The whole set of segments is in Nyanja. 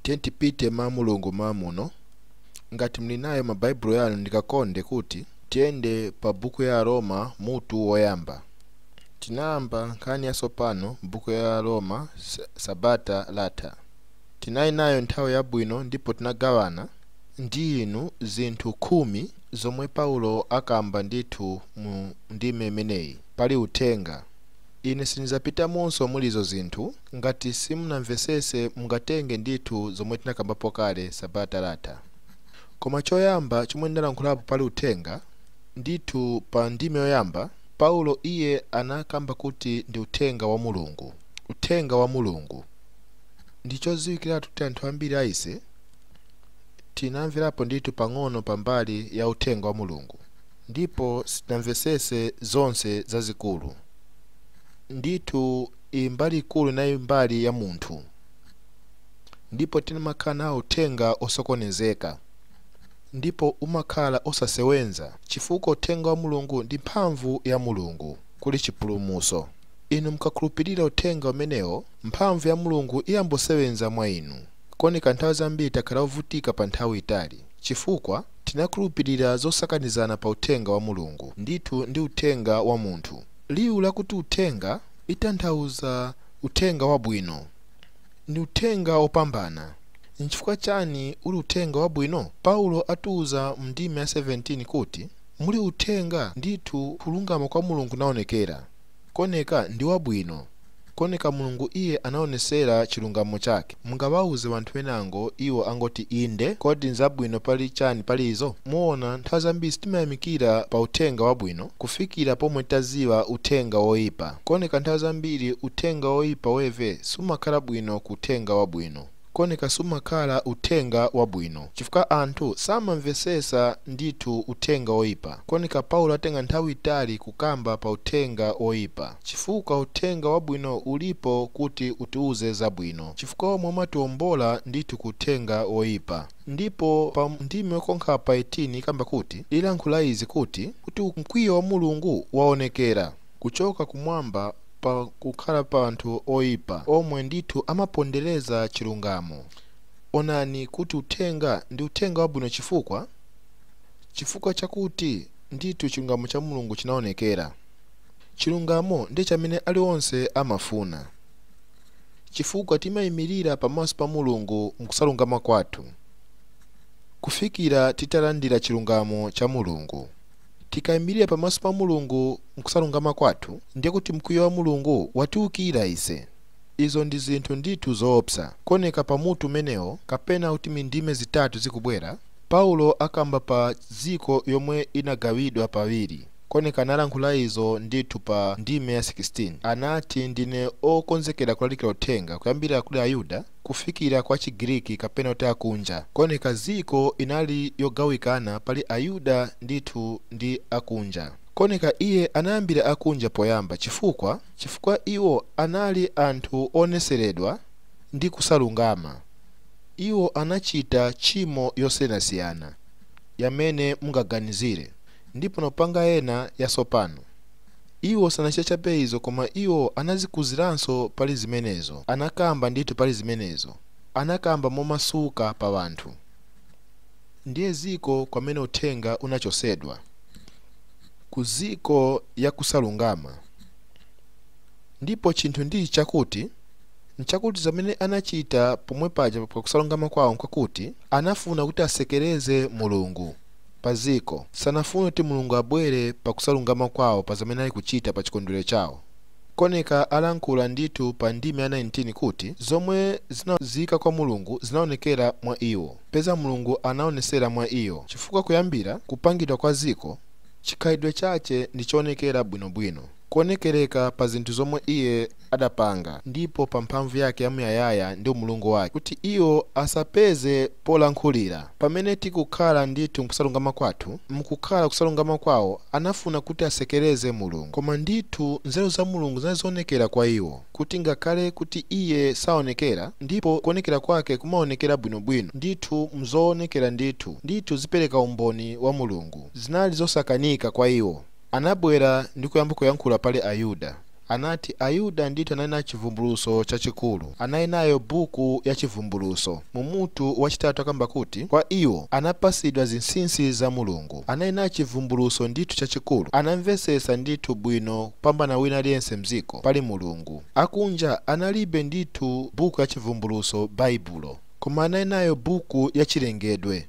tiyeni tipite m'mau a mulungu m'mawa muno ngati muli nayo mabaibulo yanu ndikakonde kuti tiyende pa buku ya aroma mutu woyamba tinayamba nkhani yatsopano m'buku ya aroma sabata latha tinali nayo nthawi yabwino ndipo tinagawana ndi inu zinthu khumi zomwe paulo akamba ndithu mu ndime imeneyi pali uthenga Ine sindidzapitamonso muli izo zinthu, ngati simunamvesese mungatenge ndithu zomwe tinakambapo kale sabata latha. Koma choyamba chomwe ndinalankhulapo pali uthenga, ndithu pa ndime yoyamba, Paulo iye anakamba kuti ndi uthenga wa Mulungu, uthenga wa Mulungu. Ndi chodziwikiratu kuti anthu ambiri a ise tinamverapo ndithu pang'ono pa mbali ya uthenga wa Mulungu. ndipo sitinamvesese zonse zazikulu ndithu iyi mbali ikulu inali mbali ya munthu ndipo tinamakhala nawo uthenga osokonezeka ndipo umakhala osasewenza chifukwa uthenga wa mulungu ndi mphamvu ya mulungu kuli chipulumuso inu mkakhulupilira uthenga umenewo mphamvu ya mulungu iyambosewenza mwa inu koneka nthawi zambiri takhala ovutika pa nthawi itali Chifukwa tinakhulupilira zosakanizana pa uthenga wa Mulungu ndithu ndi uthenga wa munthu. Liwu lakuti uthenga litanthauza uthenga wabwino. Ndi uthenga opambana. Nchifukwa chani uli uthenga wabwino? Paulo atiuza mu ndime ya 17 kuti, Muli uthenga ndithu kulungama kwa Mulungu naonekera. koneka ndi wabwino koneka mulungu iye anaonesera chilungamo chake mungawauze wanthu enango iwo angoti inde kodi nzabwino pali chani pali izo muona nthawi zambiri sitimayamikira pa uthenga wabwino kufikira pomwe taziwa uthenga woipa koneka nthawi zambiri uthenga woipa weve sumakhala bwino ku uthenga wabwino kuoneka sumakhala uthenga wabwino chifukwa anthu samamvesesa ndithu uthenga oipa kuoneka Paulo atenga nthawi itali kukamba pa uthenga woipa chifukwa uthenga wabwino ulipo kuti utiuze zabwino chifukwa omwe umatiombola ndithu ku uthenga woipa ndipo pa ndime yokonkha pa 18 ikamba kuti ilankhula izi kuti kuti mkwiyo wa Mulungu waonekera kuchoka kumwamba pa kukhala pa anthu oipa omwe ndithu amapondereza chilungamo. Onani kuti uthenga ndi uthenga wabwino chifukwa? Chifukwa chakuti ndithu chilungamo cha Mulungu chinaonekera. Chilungamo ndiye chamene ali onse amafuna. Chifukwa timaimirira pamaso pa Mulungu mkusalungama kwathu kufikira titalandira chilungamo cha Mulungu. Tikaimirira pamaso pa Mulungu mkusalungama kwathu, ndiye kuti mkwiyo wa Mulungu watiukira ise. Izo ndi zinthu ndithu zoopsa. Koneka pa mutu umenewo, kapena kuti mi ndime zitatu zikubwera, Paulo akamba pa dziko yomwe inagawidwa pawiri. Koneka analankhula izo ndithu pa ndime ya 16. Anati, Ndine okonzekera kulalikira uthenga kuyambira kuli Ayuda. kufikira kwa Chigiriki kapena kuti akunja. Koneka dziko inali yogawikana pali Ayuda ndithu ndi akunja. Koneka iye anayambira akunja poyamba chifukwa chifukwa iwo anali anthu oneseredwa ndi kusalungama. Iwo anachita tchimo yosiyanasiyana yamene mungaganizire. ndipo anapanga ena yatsopano. Iwo sanachita chabe izo, koma iwo anazikuziranso pali zimenezo, anakamba ndithu pali zimenezo, anakamba momasuka pa wanthu. Ndiye ziko kwamene Uthenga unachosedwa, ku ziko ya kusalungama. Ndipo chinthu ndi chakuti, nchakuti zamene anachita pomwe paja pa kusalungama kwao nkwakuti anafuna kuti asekereze Mulungu. pa ziko. Sanafune kuti Mulungu abwere pa kusalungama kwao pa zamene ali kuchita pa chikondwerero chao. Koneka alankhula ndithu pa ndime ya 19 kuti zomwe zinaziwika kwa Mulungu zinaonekera mwa iwo. Peza Mulungu anaonesera mwa iwo chifukwa kuyambira kupangidwa kwa ziko chikhalidwe chache ndi chionekera bwino bwino. kuonekereka pa zinthu zomwe Iye adapanga, ndipo pa mphamvu yake yamuyayaya ndi umulungu wake, kuti iwo asapeze polankhulira, pamene tikukhala ndithu m'kusalungama kwathu, mukukhala kusalungama kwawo anafuna kuti asekereze Mulungu, koma ndithu nzeru za Mulungu zinazionekera kwa iwo, kuti ngakhale kuti Iye saonekera, ndipo kuonekera kwake kumaonekera bwinobwino ndithu m'zoonekera ndithu ndithu zipereka umboni wa Mulungu, zinali zosakanika kwa iwo. Anabwera ndi kuyamba kuyankhula pali Ayuda. Anati, Ayuda ndithu anali na chivumbulutso chachikulu. Anali nayo Buku ya Chivumbulutso. Mu mutu wachitatu akamba kuti, Kwa iwo anapasidwa zinsinsi za Mulungu. Anali na chivumbulutso ndithu chachikulu. Anamvesesa ndithu bwino kupambana wina aliyense mziko, pali Mulungu. Akunja analibe ndithu Buku ya Chivumbulutso, Baibulo. Koma anali nayo Buku ya Chilengedwe.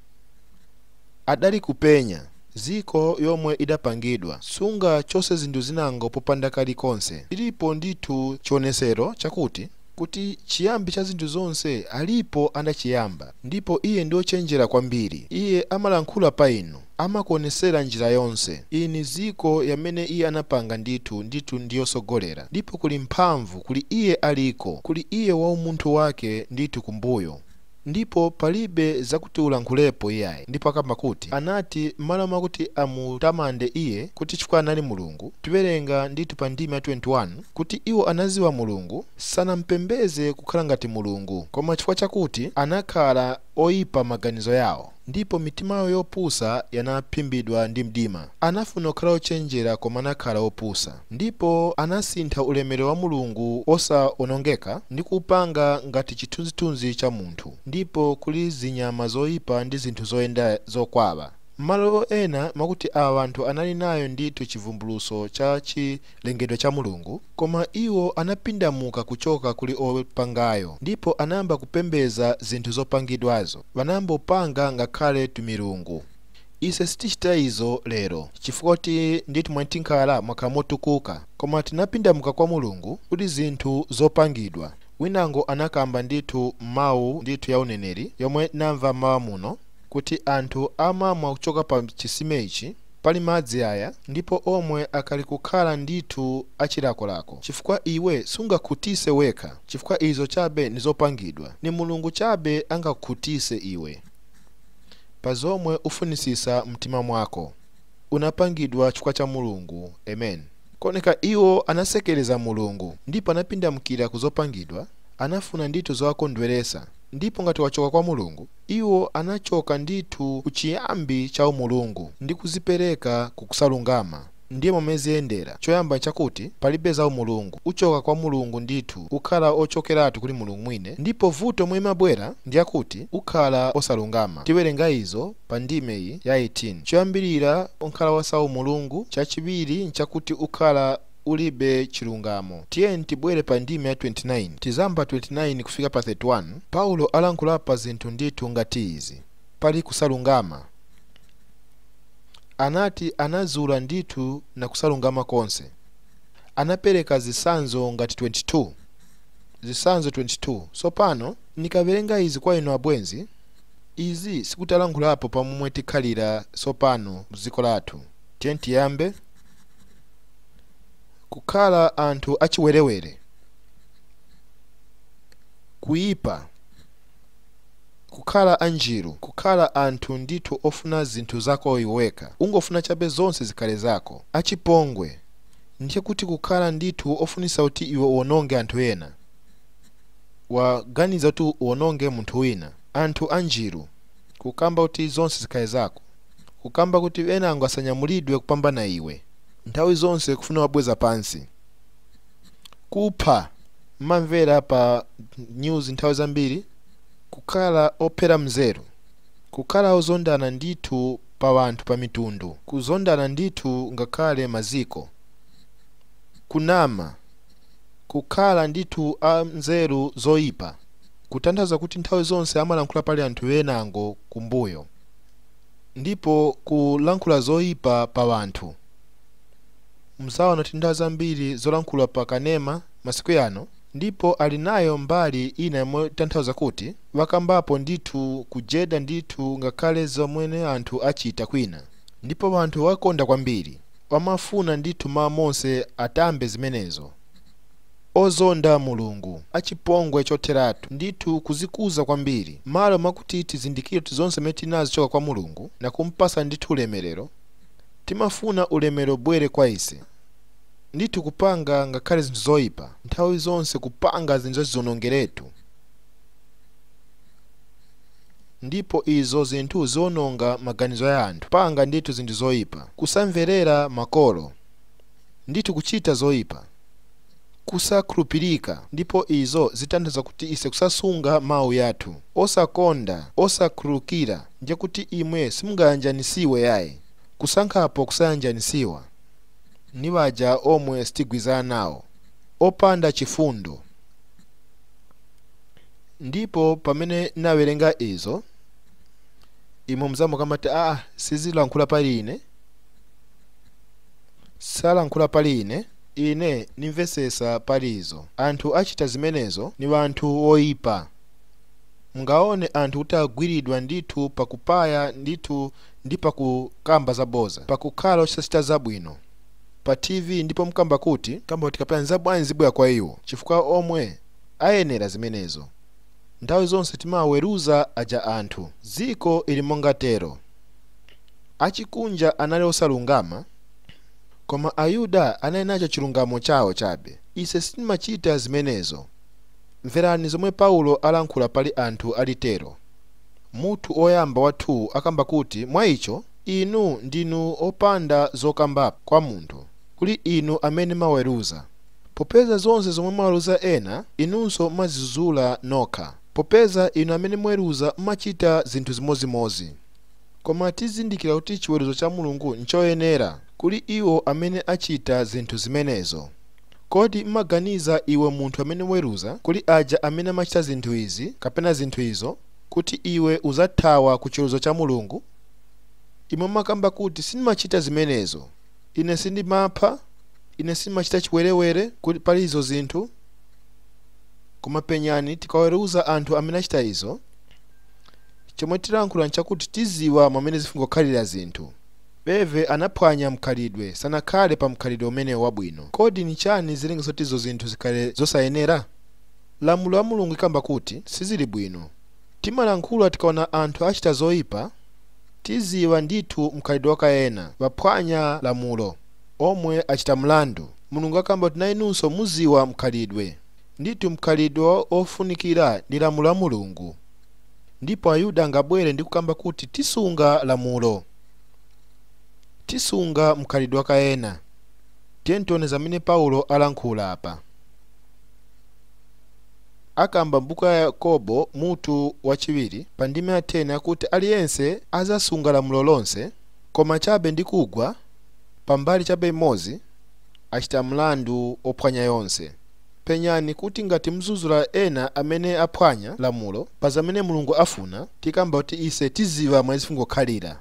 Adali kupenya. Dziko yomwe idapangidwa sungachose zinthu zinango popanda kalikonse ilipo ndithu chionesero chakuti kuti chiyambi cha zinthu zonse alipo anachiyamba ndipo iye ndi ochenjera kwambiri iye amalankhula pa inu amakuonesera njira yonse iyi ni dziko yamene iye anapanga ndithu ndithu ndi yosogolera ndipo kuli mphamvu kuli iye aliko kuli iye wa umunthu wake ndithu kumbuyo Ndipo palibe zakuti ulankhulepo iyayi, ndipo akamba kuti, anati, m'malo mwakuti amutamande iye, kuti chifukwa anali Mulungu, tiwerenga ndithu pa ndime ya 21, kuti iwo anaziwa Mulungu, sanampembeze kukhala ngati Mulungu, koma chifukwa chakuti anakhala oipa m'maganizo yawo. Ndipo mitima yawo yopusa yanaphimbidwa ndi mdima. Anafuna kukhala ochenjera koma anakhala opusa. Ndipo anasintha ulemerero wa Mulungu wosawonongeka ndi kuupanga ngati chithunzithunzi cha munthu. Ndipo kuli zinyama zoipa ndi zinthu zoyenda zokwawa. M'malo ena, mwakuti awa anthu anali nayo ndithu chivumbulutso cha chi, chilengedwe cha Mulungu, koma iwo anapindamuka kuchoka kuli opangayo ndipo anayamba kupembeza zinthu zopangidwazo, banayamba kupanga ngakhale tumilungu. Ise sitichita izo lero chifukwa kuti ndithu mwene tinkhala mwakhala motukuka, koma tinapindamuka kwa Mulungu kuli zinthu zopangidwa. Winango anakamba ndithu mau ndithu ya uneneri yomwe tinamva m'mawa muno, kuti anthu amamwa kuchoka pa chisime ichi, Pali madzi aya, ndipo omwe akali kukhala ndithu a chilakolako, chifukwa iwe sungakhutise wekha, chifukwa izo chabe ndi zopangidwa. Ni Mulungu chabe angakhutise iwe pa zomwe ufunisisa m'mtima mwako. Unapangidwa chifukwa cha Mulungu. Amen. Koneka iwo anasekereza Mulungu, ndipo anapindamukira ku zopangidwa, anafuna ndithu zowakondweresa. Ndipo ngati wachoka kwa Mulungu, Iwo anachoka ndithu ku chiyambi cha umulungu ndi kuzipereka ku kusalungama. Ndiye momwe ziyendera. Choyamba nchakuti, palibe za umulungu. Uchoka kwa Mulungu ndithu, ukhala ochokeratu kuli Mulungu mwine, ndipo vuto omwe imabwera ndi yakuti ukhala osalungama. Tiwerenga izo pa ndime iyi ya 18. Choyambirira unkhala wa saumulungu, chachiwiri nchakuti ukhala. ulibe chilungamo. Tiyeni tibwere pa ndime ya 29, tizamba 29 kufika pa 31, Paulo alankhula pa zinthu ndithu ngati izi, pali kusalungama, anati anazula ndithu na kusalungama konse, anapereka zisanzo ngati 22, zisanzo 22, sopano, nikawerenga izi kwa inu abwenzi, izi sikuti alankhulapo pa momwe tikhalira sopano mziko lathu, tiyeni tiyambe. Kukhala anthu achiwerewere, kuipa, kukhala anjiru, kukhala anthu ndithu ofuna zinthu zako iwe wekha, ungofuna chabe zonse zikhale zako, achipongwe, ndiye kuti kukhala ndithu ofunisa kuti iwe uwononge anthu ena, waganiza kuti uwononge munthu wina, anthu anjiru, kukamba kuti zonse zikhale zako, kukamba kuti enango asanyamulidwe kupambana iwe. nthawi zonse kufuna wabweza pansi kupha mmamvera pa news nthawi zambiri kukhala ophera mzeru kukhala ozondana ndithu pa wanthu pa mitundu kuzondana ndithu ngakhale maiko kunama kukhala ndithu a nzeru zoipa kutanthauza kuti nthawi zonse amalankhula pali anthu enango kumbuyo Ndipo kulankhula zoipa pa wanthu. Muzaona kuti nthawi zambiri zolankhula pa kanema masiku yano ndipo ali nayo mbali ina yomwe tanthauza kuti wakambapo ndithu kujeda ndithu ngakhale zomwe anthu achita kwina ndipo wanthu wakonda kwambiri wamafuna ndithu ma monse atambe zimenezo. Ozonda Mulungu, achipongwe chotheratu, ndithu kuzikuza kwambiri, malo mwakuti tizindikire kuti zonse zimene tili nazo zichoka kwa Mulungu, na kumpasa ndithu ulemelero, timafuna ulemelero ubwere kwa ise, ndithu kupanga ngakhale zinthu zoipa, nthawi zonse kupanga zinthu zoti zionongeretu, ndipo izo zinthu ziononga maganizo ya anthu, kupanga ndithu zinthu zoipa, kusamvelera makolo, ndithu kuchita zoipa. kusakhulupirika, ndipo izo zitanthauza kuti ise kusasunga mawu yathu, osakonda, osakhululukira, ndiye kuti imwe simungayanjanisiwe yayi, kusankhapo kusayanjanisiwa ni waja omwe sitigwizana nawo, opanda chifundo. Ndipo pamene nawerenga izo, imwe mzamukamati, ah, sizilankhula pali ine. salankhula pali ine, ine nimvesesa pali izo. Anthu achita zimenezo ni banthu woipa. Mungaone anthu kuti agwiridwa ndithu pa kupaya ndithu ndi pa kukamba zaboza, pa kukhala osachita zabwino, pa TV, ndipo mkamba kuti, mkamba kuti kapena nzabwino zibwera kwa iwo, chifukwa omwe ayenera zimenezo. Nthawi zonse timawaweruza aja anthu. Dziko ili monga tero. Achikunja anali osalungama, koma Ayuda anali nacho chilungamo chawo chabe. Ise sitimachita zimenezo. Mverani zomwe Paulo alankhula pali anthu ali tero. Mutu oyamba wa 2 akamba kuti mwa icho inu ndinu opanda zokambapo kwa munthu kuli inu amene maweruza. Popeza zonse zomwe maweruza ena, inunso mumazizuzula nokha. Popeza inu amene muweruza mumachita zinthu zimodzimodzi. Koma tizindikira kuti chiweruzo cha Mulungu nchoyenera kuli iwo amene achita zinthu zimenezo. Kodi mumaganiza iwe munthu amene mweruza kuli aja amene amachita zinthu izi kapena zinthu izo, kuti iwe udzathawa ku chiweruzo cha Mulungu? Imwe mumakamba kuti, sindimachita zimenezo. Ine sindimapha, ine sindimachita chiwerewere, kuti pali izo zinthu. Koma penyani, tikaweruza anthu amene achita izo, chomwe tilankhula nchakuti tiziwa mwamene zifunika kukhalira zinthu. Beve anaphwanya mkhalidwe, sanakhale pa mkhalidwe umenewo wabwino. Kodi nichani zilengesa kuti izo zinthu zikhale zosayenera? Lamulo ya Mulungu ikamba kuti sizili bwino. Timalankhula tikaona anthu achita zoipa. Tiziwa ndithu mkhalidwe wakayena baphwanya lamulo omwe achita mlandu. Mulungu akamba kuti nainunso muziwa mkhalidwe. Ndithu mkhalidwe ofunikira ndi lamulo a Mulungu. Ndipo ayuda angabwere ndi kukamba kuti tisunga lamulo. Tisunga mkhalidwe wakayena. Tiyeni tione zamene Paulo alankhula apa. Akamba m'buku la Yakobo mutu wachiwiri pa ndime ya 10 akuti aliyense azasunga lamulo lonse, koma chabe ndi kugwa pa mbali chabe imozi, achita mlandu ophwanya yonse. Penyani kuti ngati muzuzula ena amene aphwanya lamulo pa zamene Mulungu afuna, tikamba kuti ise tiziba mwa zifunika kukhalira.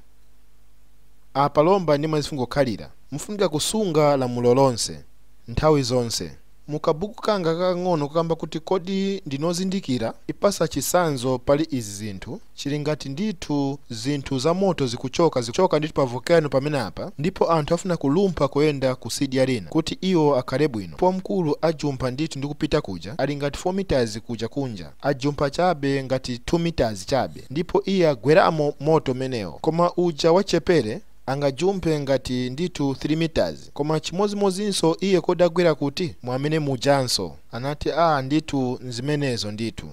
Apa lomba ndi mwa zifunika kukhalira, mufunika kusunga lamulo lonse, nthawi zonse. Mu kabuku kanga kakang'ono kokamba kuti Kodi Ndinu Ozindikira? ndipasa chisanzo pali izi zinthu, chili ngati ndithu zinthu za moto zikuchoka zikuchoka ndithu pa volcano pamene apa ndipo anthu afuna kulumpha kuyenda ku sidya lina kuti iwo akhale bwino po mkulu ajumpha ndithu ndi kupita kuja ali ngati 4 meters kuja kunja ajumpha chabe ngati 2 meters chabe ndipo iye agweramo moto umenewo koma uja wachepere Angajumphe ngati ndithu 3 meters koma chimozimozinso iye kodi agwera kuti? Mwamene mujanso anati aah ndithu nzimenezo ndithu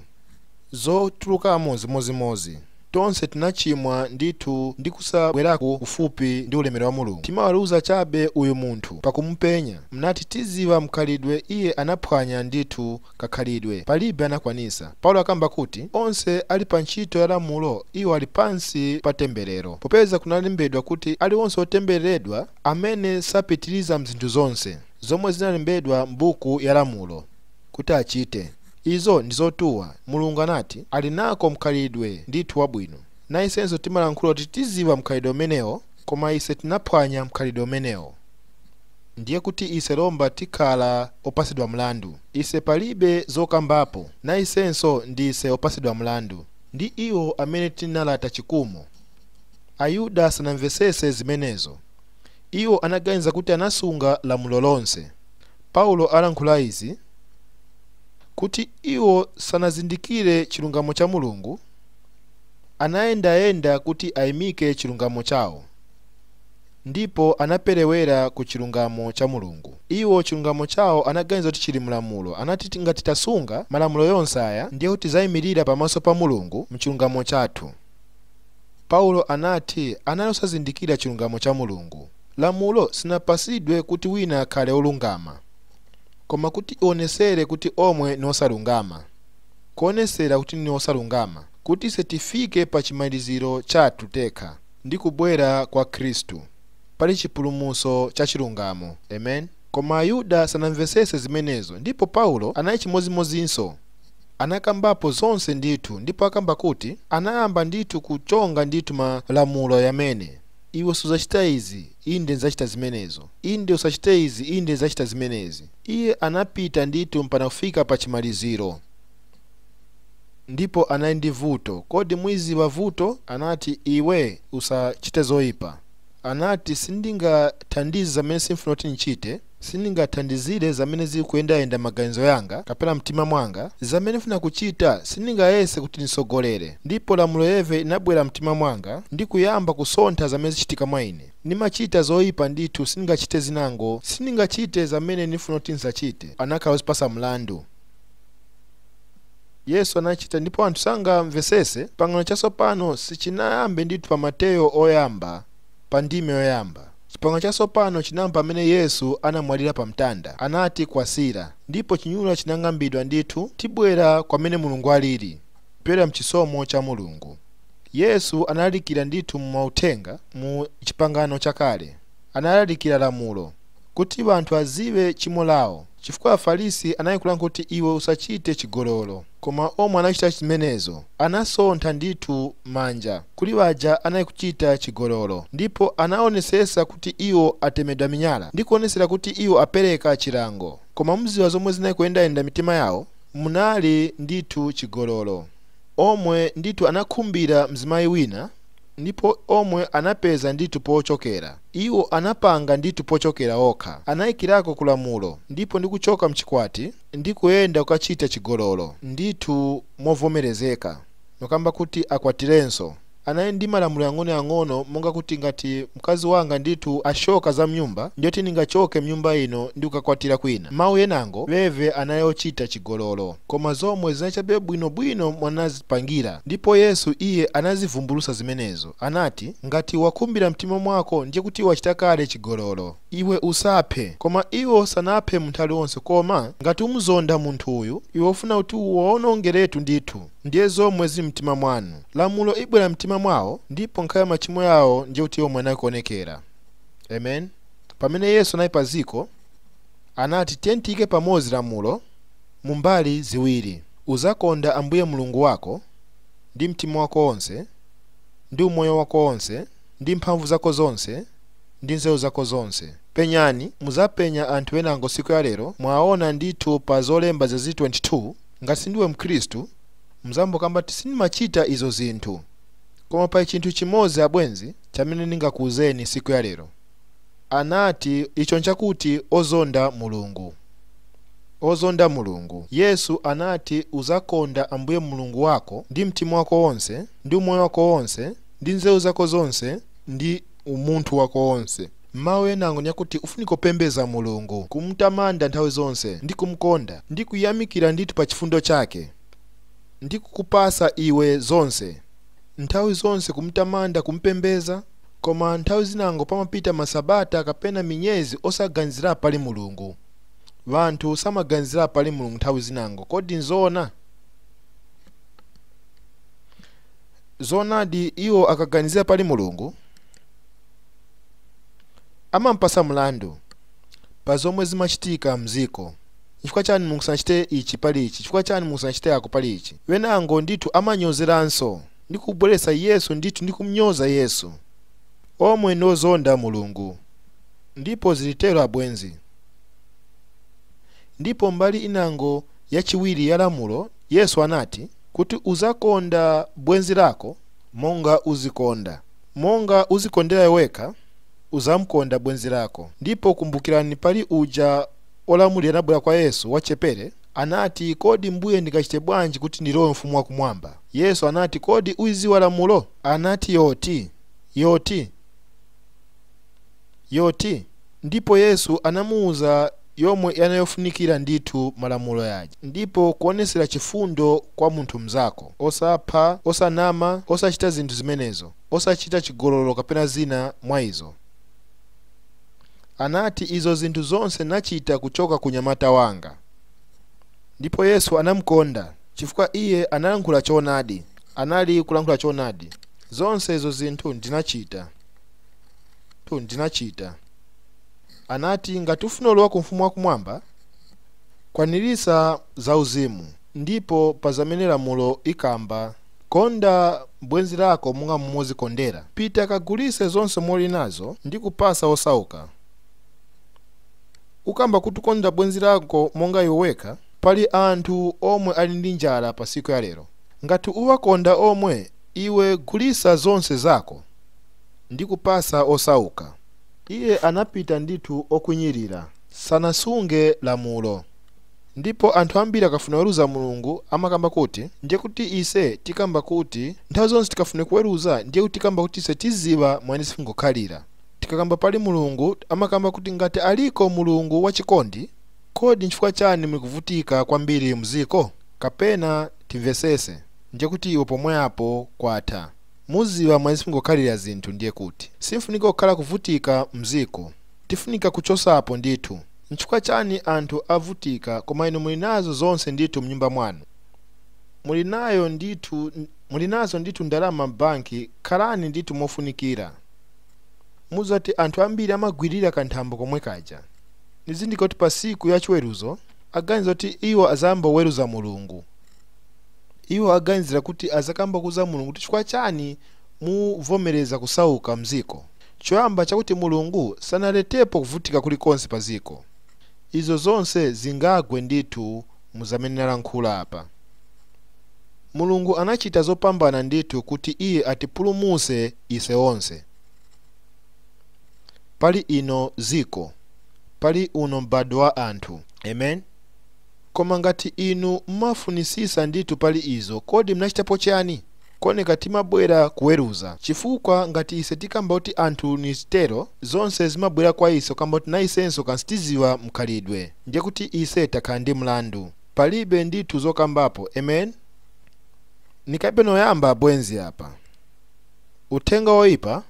zotulukamo nzimodzimodzi tonse tinachimwa ndithu ndi kusabwerako kufupi ndi ulemerero wa Mulungu timaweruza chabe uyu munthu pakumupenya mnati tiziwa mkhalidwe iye anaphwanya ndithu kakhalidwe, palibe anakwanisa. Paulo akamba kuti onse ali pa nchito ya lamulo iwo ali pansi pa tembelelo, popeza kunalembedwa kuti aliwonse otembeleledwa amene sapitiliza mzinthu zonse zomwe zinalembedwa m'buku ya lamulo kuti achite. Izo ndi zotuwa. Mulungu anati ali nako mkhalidwe ndithu wabwino. Naisenso timalankhula kuti tiziwa mkhalidwe umenewo koma ise tinaphwanya mkhalidwe umenewo. Ndiye kuti ise lomba tikhala opasidwa mlandu? Ise palibe zokambapo, naisenso ndise opasidwa mlandu. Ndi iwo amene tinalata chikumo. Ayuda sanamvesese zimenezo. Iwo anaganiza kuti anasunga lamulo lonse. Paulo alankhula izi, Kuti iwo sanazindikire chilungamo cha Mulungu, anayendayenda kuti aimike chilungamo chawo. ndipo anaperewera ku chilungamo cha Mulungu. Iwo chilungamo chawo anaganiza kuti chili mlamulo, anati ti- ngati tasunga malamulo yonse aya ndiye kuti tizayimirira pamaso pa Mulungu mchilungamo chathu. Paulo anati anali osazindikira chilungamo cha Mulungu. Lamulo sinapasidwe kuti wina akhale olungama, koma kuti ionesere kuti onse ni osalungama. Kuonesera kuti ni osalungama, kuti ise tifike pa chimaliziro chathu tekha. ndi kubwera kwa Khristu, pali chipulumuso cha chilungamo. Amen. Koma Ayuda sanamvesese zimenezo, ndipo Paulo anali chimodzimodzinso. Anakambapo zonse ndithu, ndipo akamba kuti anayamba ndithu kuchonga ndithu malamulo yamene, Iwe suzachita izi, inde ndzachita zimenezo, inde usachite izi, inde ndzachita zimenezi. Iye anapita ndithu mpaka kufika pa chimaliziro. ndipo anali ndi vuto. Kodi muiziwa vuto? Anati, Iwe usachite zoipa. Anati, Sindingathandize zamene sinfuna kuti nichite. Sindingathandizile zamene zili kuyenda-yenda m'maganizo yanga kapena m'mtima mwanga. Zamene nifuna kuchita sindingayese kuti nisogolele. Ndipo lamulo yeve inabwela m'mtima mwanga ndi kuyamba kusontha zamene zichitika mwa ine. Nimachita zoipa ndithu sindingachite zinango sindingachite zamene nifuna kuti nisachite. Anakhala ozipasa mlandu. yesu anachita ndipo anthu sangamvesese chipangano chatsopano sichinayambe ndithu pa mateyo oyamba pa ndime yoyamba chipangano chatsopano chinayamba pamene yesu anamwalira pa mtanda anati kwasira ndipo chinyula chinang'ambidwa ndithu tibwera kwamene mulungu alili kupyolera mchisomo cha mulungu yesu analalikira ndithu mu mauthenga mu chipangano chakale analalikira lamulo kuti ŵanthu aziŵe chimo lao, chifukwa Afalisi anali kulankhula kuti iwe usachite chigololo. Koma omwe anali kuchita chimenezo anasontha ndithu manja kuli ŵaja anali kuchita chigololo, ndipo anaonesesa kuti iwo atemedwa minyala ndi kuonesera kuti iwo apeleka chilango. Koma muziwa zomwe zinali kuyendayenda m'mitima yao, munali ndithu chigololo. Omwe ndithu anakhumbira mzimai wina Ndipo omwe anapeza ndithu pochokera, iwo anapanga ndithu pochokera okha, anaikirako ku lamulo, ndipo ndikuchoka mchikwati, ndi kuyenda kukachita chigololo, ndithu movomerezeka, nukamba kuti akwatirenso, anali ndi malamulo yang'onoyang'ono monga kuti ngati mkazi wanga ndithu ashoka za mnyumba, ndiye kuti ningachoke mnyumba ino ndi kukakwatira kwina, mmau yenango, beve anali ochita chigololo. Koma zomwe zinachabe bwino bwino mwanazipangira ndipo Yesu iye anazivumbulutsa zimenezo. Anati, ngati wakhumbira mtima mwako ndiye kuti wachita kale chigololo. Iwe usaphe. Koma iwo sanaphe munthu aliwonse koma, ngati umuzonda munthu uyu, iwe ufuna kuti uwaonongeretu ndithu. Ndiye zomwe zili mtima mwanu. Lamulo ibwera mtima mwawo ndipo nkhawa ya machimo yawo ndiye kuti yomwe anakuonekera. Amen. Pamene Yesu anali pa dziko, anati, tiyeni tiyike pamodzi lamulo. mu mbali ziwiri. Uzakonda Ambuye Mulungu wako ndi mtima wako onse, ndi umoyo wako onse, ndi mphamvu zako zonse, ndi nzeru zako zonse. Penyani, muzapenya anthu enango siku ya lero, mwaona ndithu pa zolemba za 22, ngati sindiwe mkhristu, muzambokamba kuti sindimachita izo zinthu. Koma pali chinthu chimodzi abwenzi, chamene ndingakuuzeni siku ya lero. Anati, Icho nchakuti ozonda Mulungu. Ozonda Mulungu. Yesu anati, Uzakonda Ambuye Mulungu wako ndi mtima wako wonse, ndi umoyo wako wonse, ndi nzeru zako zonse, ndi umunthu wako wonse. Mmawu enango nyakuti ufunika kupembeza Mulungu, kumtamanda nthawi zonse, ndi kumkonda, ndi kuyamikira ndithu pa chifundo chake, ndi kukupasa iwe zonse, nthawi zonse kumtamanda, kumupembeza. Koma nthawi zinango pamapita masabata kapena minyezi osaganizila pali Mulungu. Banthu samaganizila pali Mulungu nthawi zinango, kodi nzoona? Zoonadi iwo akaganizila pali Mulungu, amampasa mlandu pa zomwe zimachitika mziko. Chifukwa chani Mulungu sanachite ichi pali ichi? Chifukwa chani Mulungu sanachite ako pali ichi? Benango ndithu amanyozelanso. ndi kubweretsa Yesu ndithu ndi kumnyoza Yesu, omwe nozonda Mulungu. Ndipo ziri tero, abwenzi. Ndipo mbali inango yachiwiri ya lamulo, Yesu anati, kuti uzakonda bwenzi lako monga uzikonda. Monga uzikondera weka, uzamkonda bwenzi lako. Ndipo kumbukirani pali uja Olamulira anabwera kwa Yesu, wachepere, anati, Kodi Mbuye ndikachite bwanji kuti ndilowe Ufumu wa Kumwamba? Yesu anati, Kodi uiziwa lamulo? Anati, Yoti, yoti, yoti? Ndipo Yesu anamuuza yomwe ianali yofunikira ndithu malamulo yaja. Ndipo kuonesera chifundo kwa munthu mzako, osapha, osanama, osachita zinthu zimenezo, osachita chigololo kapena zina mwa izo. anati, Izo zinthu zonse nachita kuchoka ku unyamata wanga. Ndipo Yesu anamkonda chifukwa iye analankhula choonadi, anali kulankhula choonadi, Zonse izo zinthu ndinachita, tu ndinachita. Anati, Ngati ufuna ulowa ku Ufumu wa Kumwamba, kwanirisa zauzimu, ndipo pa zamene lamulo ikamba. Konda bwenzi lako monga momwe uzikondera. Pita kagulise zonse muli nazo ndi kupasa osauka. Ukamba kuti ukonda bwenzi lako monga iwe wekha, pali anthu omwe ali ndi njala pa siku yalero. Ngati uwakonda omwe iwe gulisa zonse zako ndi kupasa osauka. Iye anapita ndithu okwinyilira, sanasunge lamulo. Ndipo anthu ambiri akafuna kuweruza Mulungu amakamba kuti, ndiye kuti ise tikamba kuti, nthawi zonse tikafuna kuweruza ndiye kuti tikamba kuti ise tiziba mwamene zifunika kukhalira. Tikakamba pali Mulungu amakamba kuti ngati aliko Mulungu wa chikondi, kodi nchifukwa chani muli kuvutika kwambiri mziko? Kapena timvesese, ndiye kuti iwo pomwe apo kwatha. Muziwa mwamene zifunika kukhalira zinthu ndiye kuti simfunika kukhala kuvutika mziko. Tifunika kuchosapo ndithu. Nchifukwa chani anthu avutika koma inu muli nazo zonse ndithu mnyumba mwanu. Muli nazo ndithu ndalama m'banki khalani ndithu mofunikira. Muzati anthu ambiri amagwirira kanthambo komwe kaja. Nizindikira kuti pa siku ya chiweruzo aganiza kuti iwo azayamba kuweruza Mulungu. Iwo aganizira kuti azakamba kuuza Mulungu kuti chifukwa chani muvomereza kusauka mziko. Choyamba, chakuti Mulungu sanaletepo kuvutika kulikonse pa ziko. Izo zonse zingagwe ndithu mu zamene nalankhula apa. Mulungu anachita zopambana ndithu kuti Iye atipulumuse ise onse. Pali ino ziko, pali uno m'badwo wa anthu. Amen. Koma ngati inu mumafunisisa ndithu pali izo, kodi mnachitapo chani? Koneka timabwera kuweruza chifukwa ngati ise tikamba kuti anthu nistero zonse zimabwera kwa ise kukamba kuti na isenso kansi tiziwa mkhalidwe ndiye kuti ise takhala ndi mlandu palibe ndithu zokambapo amen nikalibe noyamba abwenzi apa uthenga woipa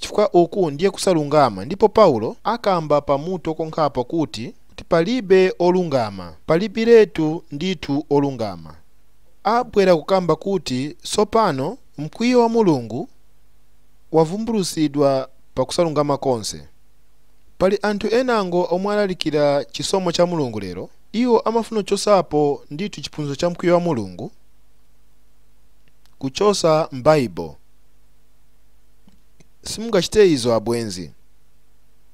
chifukwa uku ndiye kusalungama ndipo paulo akamba pa mutu okonkhapo kuti Kuti palibe olungama. Palibiretu ndithu olungama. Abwera kukamba kuti tsopano mkwiyo wa Mulungu wavumbulusidwa pa kusalungama konse. Pali anthu enango omwe alalikira chisomo cha Mulungu lero, iwo amafuna kuchosapo ndithu chiphunziso cha mkwiyo wa Mulungu kuchosa m'Baibo. Simungachite izo abwenzi.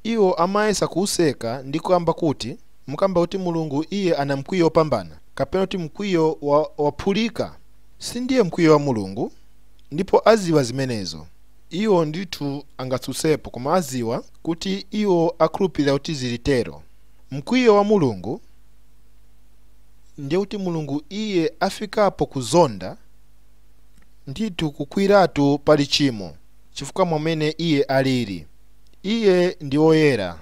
Iwo amayesa kuuseka ndi kukamba kuti, Mukamba kuti Mulungu iye ana mkwiyo opambana, kapena kuti mkwiyo waphulika? Sindiye mkwiyo wa Mulungu, ndipo aziwa zimenezo. Iwo ndithu angasusepo, koma aziwa kuti iwo akhulupirira kuti zili tero. Mkwiyo wa Mulungu ndiye kuti Mulungu iye afikapo kuzonda, ndithu kukwiratu pali chimo, chifukwa mwamene iye alili. iye ndi woyera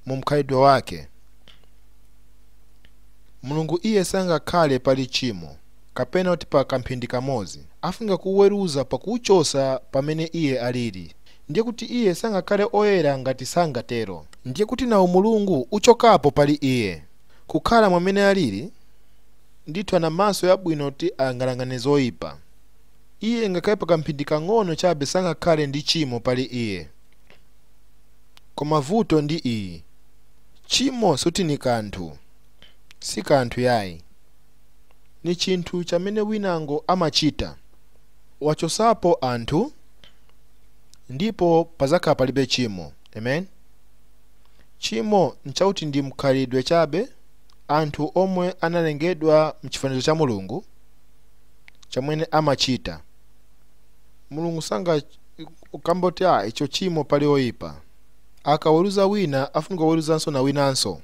mu mkhalidwe wake mulungu iye sangakhale pali chimo kapena kuti pa kamphindi kamodzi afunika kuuweruza pakuuchosa pamene iye alili ndiye kuti iye sangakhale oyera ngati sangatero ndiye kuti na umulungu uchokapo pali iye kukhala mwamene alili ndithu ana maso yabwino kuti angalang'ane zoyipa Iye ngakhale pa kamphindi kang'ono chabe sangakhale ndi chimo pali iye. Koma vuto ndi iyi, chimo sikuti ni kanthu, si kanthu yayi. Ni chinthu chamene winango amachita, wachosapo anthu ndipo pazakhala palibe tchimo. Amen. Chimo nichakuti ndi mkhalidwe chabe anthu omwe analengedwa mchifanizo cha Mulungu, chamwene amachita mulungu sanga kamba kuti ah, icho chimo pali oyipa akaweruza wina afunika kuweruzanso na winanso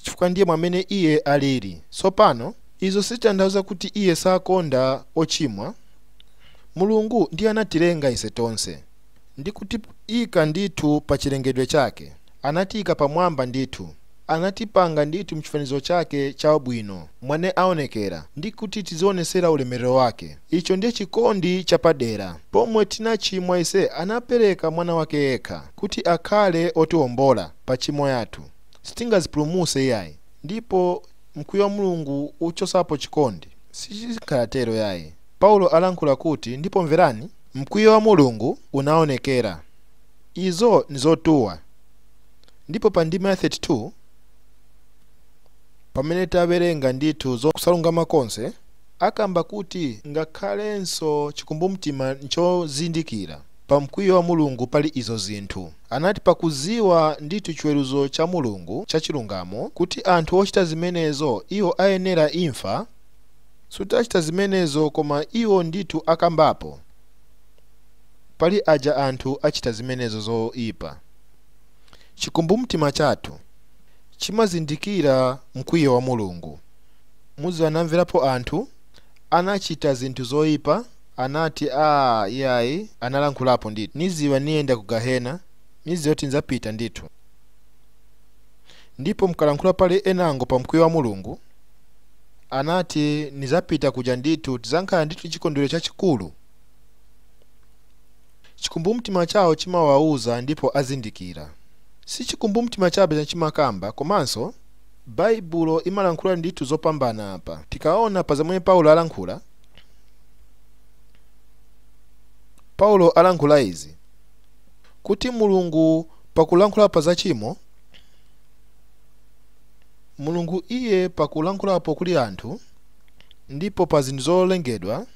chifukwa ndiye mwamene iye alili tsopano izo siitanthauza kuti iye sakonda ochimwa mulungu ndiye anatilenga ise tonse ndi kutiika ndithu pa chilengedwe chake, anatiika pamwamba ndithu, anatipanga ndithu m'chifaniziro chake chabwino, mwamene aonekera, ndi kuti tizionesera ulemerero wake. Icho ndiye chikondi chapadera. Pomwe tinachimwa ise anapereka mwana wake yekha kuti akhale otiombola pa chimo yathu. Sitingazipulumuse iyayi, ndipo mkwiyo wa Mulungu uchosapo chikondi. Sichikhala tero yayi. Paulo alankhula kuti ndipo mverani. Mkwiyo wa Mulungu unawonekera. Izo ndi zotuwa. Ndipo pa ndima ya 32, pamene tawerenga ndithu zo kusalungama konse, akamba kuti ngakhalenso chikumbumtima nchozindikira. Pa mkwiyo wa Mulungu pali izo zinthu. Anati pakuziwa ndithu chiweruzo cha Mulungu cha chilungamo, kuti anthu ochita zimenezo iwo ayenera imfa, Suti achita zimenezo koma iwo ndithu akambapo pali aja anthu achita zimenezo zoipa chikumbumtima chathu chimazindikira mkwiyo wa Mulungu muziwa namverapo anthu anachita zinthu zoipa anati aah iyayi analankhulapo ndithu niziwa niyenda ku gahena niziwa kuti nzapita ndithu. ndipo mkalankhula pali enango pa mkwiyo wa mulungu anati nizapita kuja ndithu tizankhala ndithu ni chikondwero chachikulu chikumbumtima chawo chimawauza ndipo azindikira si chikumbumtima chabe chimene chimakamba komanso baibulo imalankhula ndithu zopambana apa tikaona pa zamene paulo alankhula paulo alankhula izi kuti Mulungu pakulankhulapo za chimo, Mulungu iye pakulankhulapo kuli anthu ndipo pa zinthu zolengedwa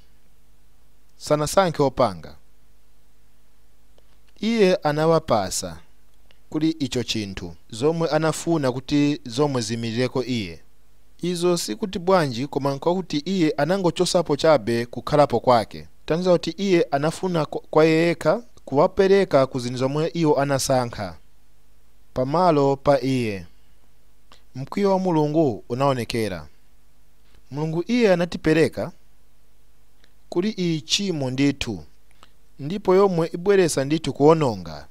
sanasankhe opanga. Iye anawapasa kuli icho chinthu zomwe anafuna kuti zomwe zimilireko iye. Izo sikuti bwanji koma nkuti iye anangochosapo chabe kukhalapo kwake, kutanthauza kuti iye anafuna kwa, kwa iye yekha, kuwapereka ku zinthu zomwe iwo anasankha, pamalo pa Iye. Mkwiyo wa Mulungu unawonekera. Mulungu, Iye anatipereka kuli iyi chimo ndithu, ndipo yomwe ibweresa ndithu kuwononga.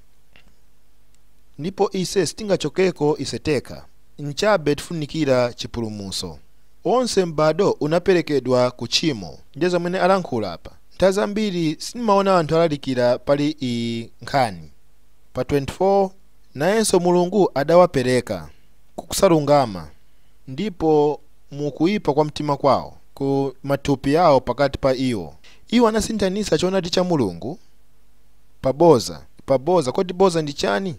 Ndipo ise sitingachokeko ise tekha, nchabe tifunikira chipulumuso. Onse m'badwo unaperekedwa ku chimo, ndiye zamene alankhula apa. Nthawi zambiri sindimaona anthu alalikira pali iyi nkhani. Pa 24 nayenso Mulungu adawapereka ku kusalungama, ndipo mu kuipa kwa mtima kwao, ku matupi awo pakati pa iwo, iwo anasinthanisa choonadi cha Mulungu pa boza, pa boza. Kodi boza ndi chani?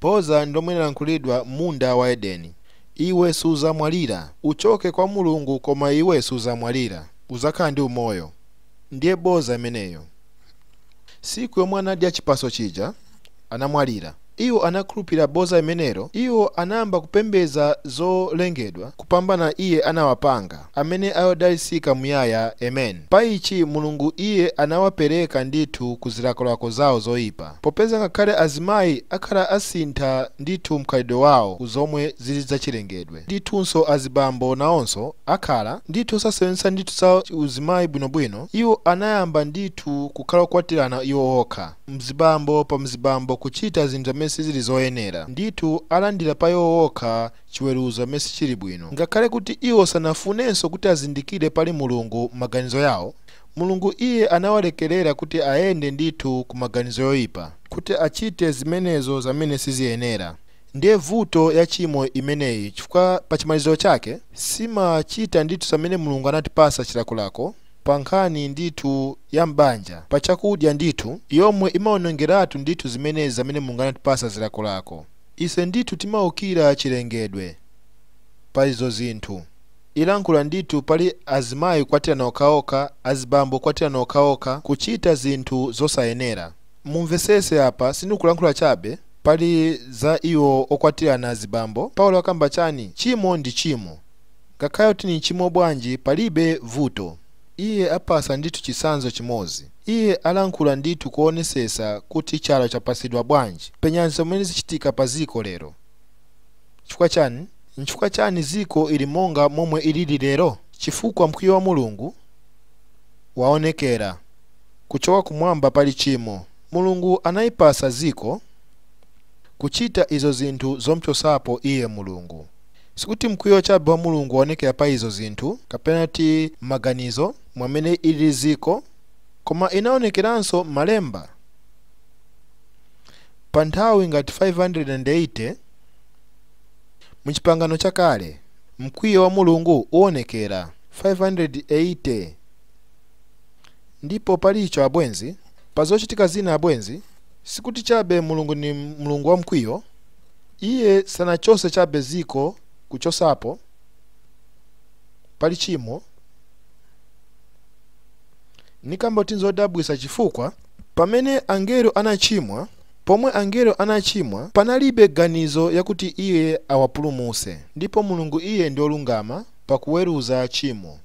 Boza ndi lomwe linalankhulidwa m'munda wa Edeni, Iwe suzamwalira. Uchoke kwa Mulungu koma iwe suzamwalira. uzakhala ndi umoyo ndiye boza imeneyo siku yomwe anadya chipaso chija anamwalira iwo anakhulupira boza imenero iwo anayamba kupembeza zolengedwa kupambana iye anawapanga amene ayodalisika muyaya amen pa ichi mulungu iye anawapereka ndithu ku zilakolako zawo zoyipa popeza ngakhale azimayi akhala asintha ndithu mkhalidwe wawo ku zomwe zili zachilengedwe Ndithunso azibambo naonso akhala ndithu osasewenzesa ndithu za uzimai bwino bwino iwo anayamba ndithu kukhala okwatilana iwo okha mzibambo pa mzibambo kuchita zinthu zamene sizili zoyenela ndithu alandila pa iwo okha chiweluzo amene sichili bwino ngakhale kuti iwo sanafunenso kuti azindikile pali Mulungu m'maganizo yao Mulungu iye anawalekelela kuti ayende ndithu ku maganizo yoipa kuti achite zimenezo zamene siziyenela. Ndiye vuto ya chimo imeneyi chifukwa pachimaliziro chake simachita ndithu zamene Mulungu anatipasa chilakolako pa nkhani ndithu ya m'banja pa chakudya ndithu yomwe imaonongeratu ndithu zimenezi zamene Mulungu anatipasa zilakolako ise ndithu timaukira chilengedwe pa izo zinthu ilankhula ndithu pali azimayi kukwatirana okhaokha azibambo kukwatirana okhaokha kuchita zinthu zosayenera Mumvesese apa sindikulankhula chabe pali za iwo okwatilana azibambo Paulo akamba chani chimo ndi chimo ngakhale kuti ni chimo bwanji palibe vuto iye apasa ndithu chisanzo chimozi iye alankhula ndithu kuonesesa kuti chalo chapasulidwa bwanji penyani zomwe zichitika pa ziko lero chifukwa chani nchifukwa chani ziko ili monga momwe ilili lero chifukwa mkwiyo wa Mulungu waonekera kuchoka kumwamba pali chimo. Mulungu anaipasa ziko kuchita izo zinthu zomchosapo iye Mulungu. Sikuti mkwiyo chabe wa Mulungu waonekera pa izo zinthu, kapena kuti m'maganizo, mwamene ili ziko, koma inaonekeranso m'malemba. Pa nthawi ngati 580 mu chipangano cha kale, mkwiyo wa Mulungu uonekera. 580. Ndipo pali icho, abwenzi, pa zochitika zina, abwenzi, sikuti chabe Mulungu ni Mulungu wa mkwiyo, Iye sanachose chabe ziko kuchosapo, pali chimo, nikamba kuti nzodabwisa chifukwa pamene angelo anachimwa, pomwe angelo anachimwa, panalibe ganizo yakuti Iye awapulumuse, ndipo Mulungu Iye ndi olungama pakuweruza chimo.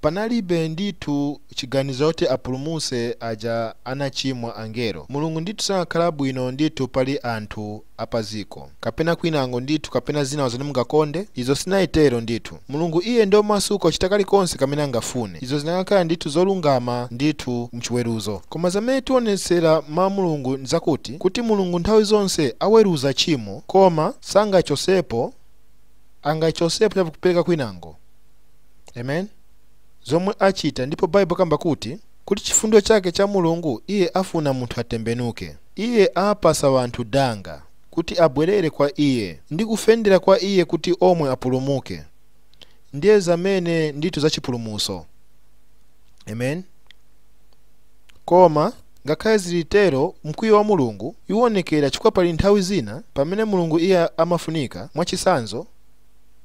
Panalibe ndithu chiganizo choti apulumutse aja anachimwa angelo mulungu ndithu sanakhale bwino ndithu pali anthu apaziko kapena kwinango ndithu kapena zina zomwe mungakonde izo sinali tero ndithu mulungu iye ndi omasuka kuchita kalikonse kamene angafune izo zinakhala ndithu zolungama ndithu mchiweruzo koma zamene tionetsera ma mulungu ndizakuti kuti mulungu nthawi zonse aweruza tchimo koma sangaichotsepo angachotsepo chapakupereka kwinango amen zomwe achita ndipo baibo ikamba kuti kuti chifundo chake cha mulungu iye afuna munthu atembenuke iye apatsa wanthu danga kuti abwerere kwa iye ndi kufendera kwa iye kuti omwe apulumuke ndiye zamene ndithu za chipulumutso amen koma ngakhale zili tero mkwiyo wa mulungu iwonekera chifukwa pali nthawi zina pamene mulungu iye amafunika mwachitsanzo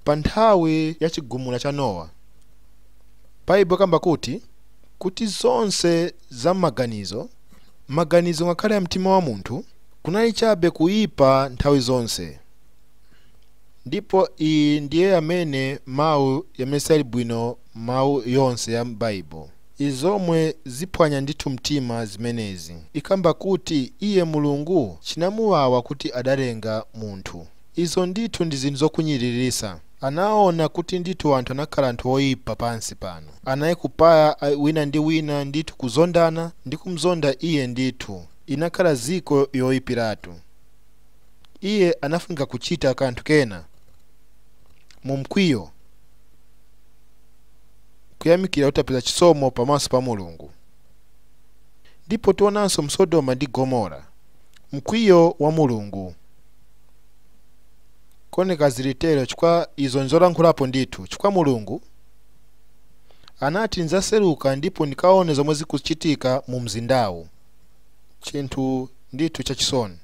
pa nthawi ya chigumula cha Nowa. Baibo ikamba kuti, kuti zonse za m'maganizo, maganizo ngakhale a mtima wa munthu, kunali chabe kuipa nthawi zonse. Ndipo iyi ndiye yamene mau yamene siali bwino mau yonse ya m'Baibo. Ni zomwe ziphwanya ndithu mtima zimenezi. Ikamba kuti iye, Mulungu, chinamuwawa kuti adalenga munthu. Izo ndithu ndi zinthu zokunyiriritsa. Anawona kuti ndithu anthu anakhala anthu oyipa pansi pano, anali kupaya wina ndi wina, ndithu kuzondana ndi kumzonda iye, ndithu inakhala dziko yoipiratu. Iye anafunika kuchita kanthu kena, mu mkwiyo, kuyamikira kuti apeza chisomo pamaso pa Mulungu. Ndipo tiwonanso mu Sodoma ndi Gomora, mkwiyo wa Mulungu. koneka zili tero chifukwa izo nzolankhulapo ndithu chifukwa mulungu anati ndidzatseruka ndipo ndikaone zomwe zikuchitika mu mzindawu chinthu ndithu chachisoni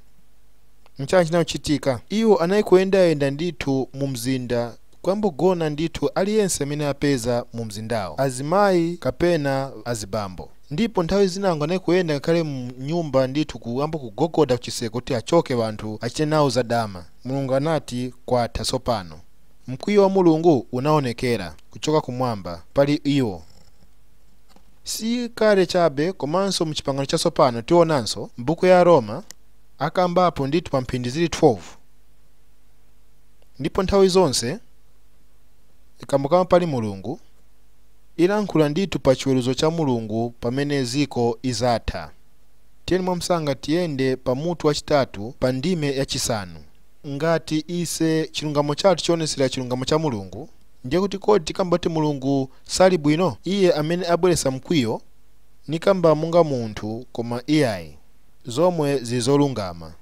nchani chinachitika iwo anali kuyendayenda ndithu mu mzinda Kuyamba kugona ndithu aliyense amene apeza mu mzindawo, azimayi kapena azibambo. Ndipo nthawi zinango anali kuyenda ngakhale mnyumba ndithu kuyamba kugogoda kuchitseko kuti achoke wanthu achite nawo za dama. Mulungu anati kwatha tsopano. Mkwiyo wa Mulungu unaonekera kuchoka kumwamba pali iwo. Si kale chabe komanso mu chipangano chatsopano tionanso, mbuku ya Aroma, akambapo ndithu pa mphindi zili 12. Ndipo nthawi zonse, ikambokamba pali Mulungu, ilankhula ndithu pa chiweruzo cha Mulungu pamene dziko idzatha. Tiyeni mwamsanga tiyende pa mutu wachitatu pa ndime yachisanu. Ngati ise chilungamo chathu chionetsera chilungamo cha Mulungu, ndiye kuti kodi tikamba kuti Mulungu sali bwino, iye amene abweretsa mkwiyo, nikamba munga munthu koma iyayi, zomwe zili zolungama.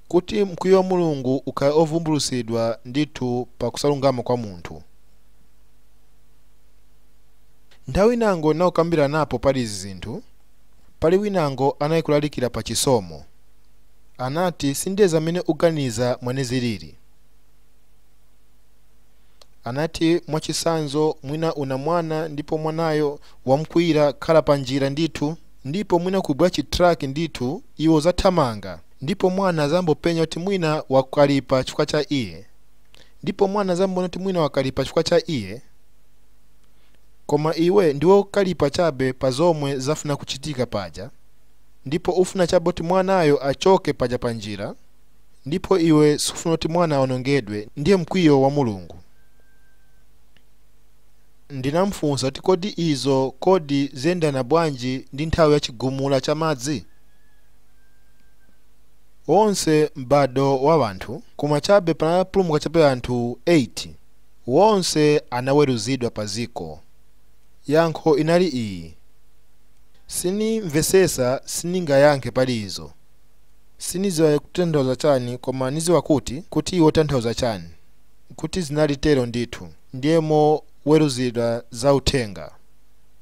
Kuti mkwiyo wa Mulungu ukhale ovumbulutsidwa ndithu pa kusalungama kwa munthu. Nthawi inango nakukambilanapo pali izi zinthu, pali winango anali kulalikila pa chisomo. Anati sindiye zamene uganiza mwamene zilili. Anati mwa chisanzo mwina una mwana ndipo mwanayo wamkwiyila wakhala pa njila ndithu. ndipo mwina kubwera chi truck ndithu iwe uzathamanga ndipo mwana azambopenya kuti mwina wakalipa chifukwa cha iye ndipo mwana azambona kuti mwina wakalipa chifukwa cha iye koma iwe ndiwe okalipa chabe pa zomwe zafuna kuchitika paja ndipo ufuna chabe kuti mwanayo achoke paja pa njira ndipo iwe sufuna kuti mwana aonongedwe ndiye mkwiyo wa mulungu ndinamfunsa kuti kodi izo kodi ziyendana bwanji ndi nthawi ya chigumula cha madzi? Wonse m'bado wa wanthu, koma chabe panapulumuka chabe anthu 8, wonse anaweruzidwa pa dziko. Yankho inali iyi, Sinimvesesa siningayankhe pali izo. Siniziwa kutanthauza chani koma niziwa kuti kuti iwe utanthauza chani, kuti zinali tero ndithu. ndiye mo weruzidwa za uthenga.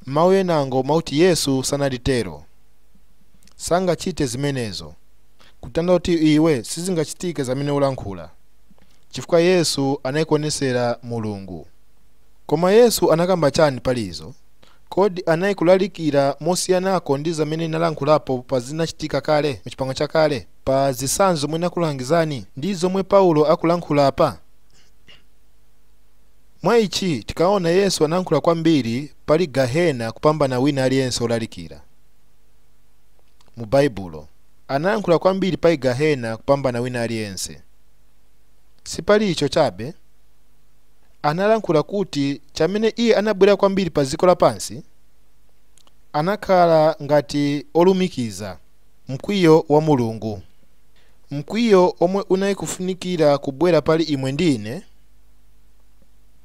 M'mawu enango mwakuti Yesu sanali tero. Sangachite zimenezo, kutanthauza kuti iwe sizingachitike zamene ulankhula, chifukwa Yesu anali kuonesera Mulungu. Koma Yesu anakamba chani pali izo? Kodi anali kulalikira mosiyanako ndi zamene nalankhulapo pa zinachitika kale mu chipangano chakale, pa zisanzo zomwe nakulangizani, ndi zomwe Paulo akulankhula apa? Mwa ici, tikaona Yesu analankhula kwambiri pali Gahena kupambana wina aliyense olalikira. Mu Baibulo, analankhula kwambiri pali Gahena kupambana wina aliyense. Sipali ico cabe, analankhula kuti camene iye anabwera kwambiri pa ziko lapansi, anakhala ngati olumikiza. Mkwiyo wa Mulungu. Mkwiyo omwe unali kufunikira kubwera pali imwe ndi ine,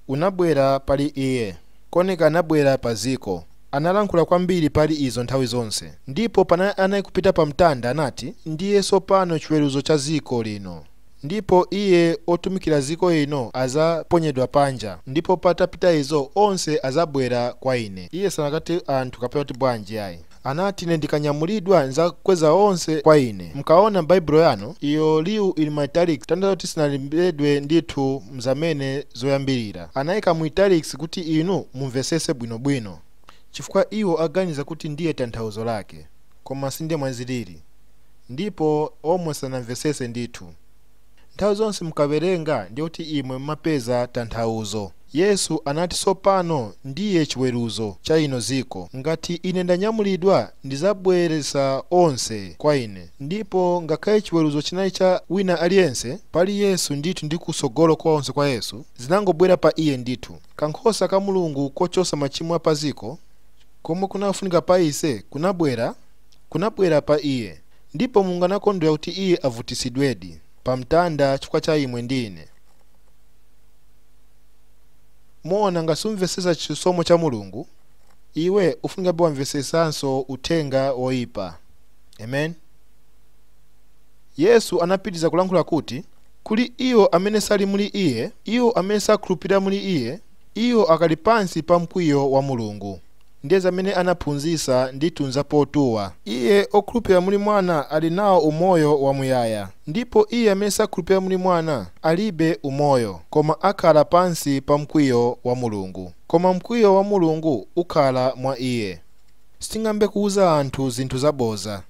unabwera pali Iye. Koneka anabwera pa dziko, analankhula kwambiri pali izo nthawi zonse, ndipo pamene anali kupita pa mtanda, anati, Ndiye tsopano chiweruzo cha dziko lino. Ndipo iye otumikira dziko ino adzaponyedwa panja, ndipo patapita izo onse adzabwera kwa ine. Iye sanakati anthu kapena kuti bwanji ayi. Anati, Ine ndikanyamulidwa, ndidzakweza onse kwa Ine. Mkaona m'Baibulo yanu, iyo, liwu ili mu italics, kutanthauza kuti sinalembedwe ndithu mzamene zoyambirira. Anaika mu italics kuti inu mumvetsetse bwinobwino, chifukwa iwo aganiza kuti ndiye tanthauzo lake, koma sindye mwa ziliri. Ndipo omwe sanamvetsetse ndithu. Nthawi zonse mukawerenga ndiye kuti imwe mumapeza tanthauzo. Yesu anati sopano ndiye chiweruzo cha ino ziko. Ngati ine ndanyamulidwa ndizabweresa onse kwa ine. Ndipo ngakhale chiweruzo chinali cha wina aliyense pali Yesu ndithu ndi kusogolo kwa onse kwa Yesu zinangobwera pali iye ndithu. Kankhosa ka Mulungu kochosa machimo a paziko komwe kunafunika pa ise kunabwera kunabwera pa iye. Ndipo Mulungu anakondwera kuti Iye avutitsidwedi, pa mtanda, chifukwa cha imwe ndi ine. Moona, ngati sumvetsetsa chisomo cha Mulungu, iwe ufunikabe wamvetsetsanso uthenga woipa. Amen. Yesu anapitiriza kulankhula kuti, Kuli iwo amene sali muli Iye, iwo amene sakhulupirira muli Iye, iwo akali pansi pa mkwiyo wa Mulungu. ndiye zamene anaphunzisa ndithu nzapotuwa. Iye okhulupira muli mwana ali nawo umoyo wamuyaya ndipo iye amene sakhulupira muli mwana alibe umoyo koma akhala pansi pa mkwiyo wa Mulungu koma mkwiyo wa Mulungu ukhala mwa iye. Sitingambe kuuza anthu zinthu zaboza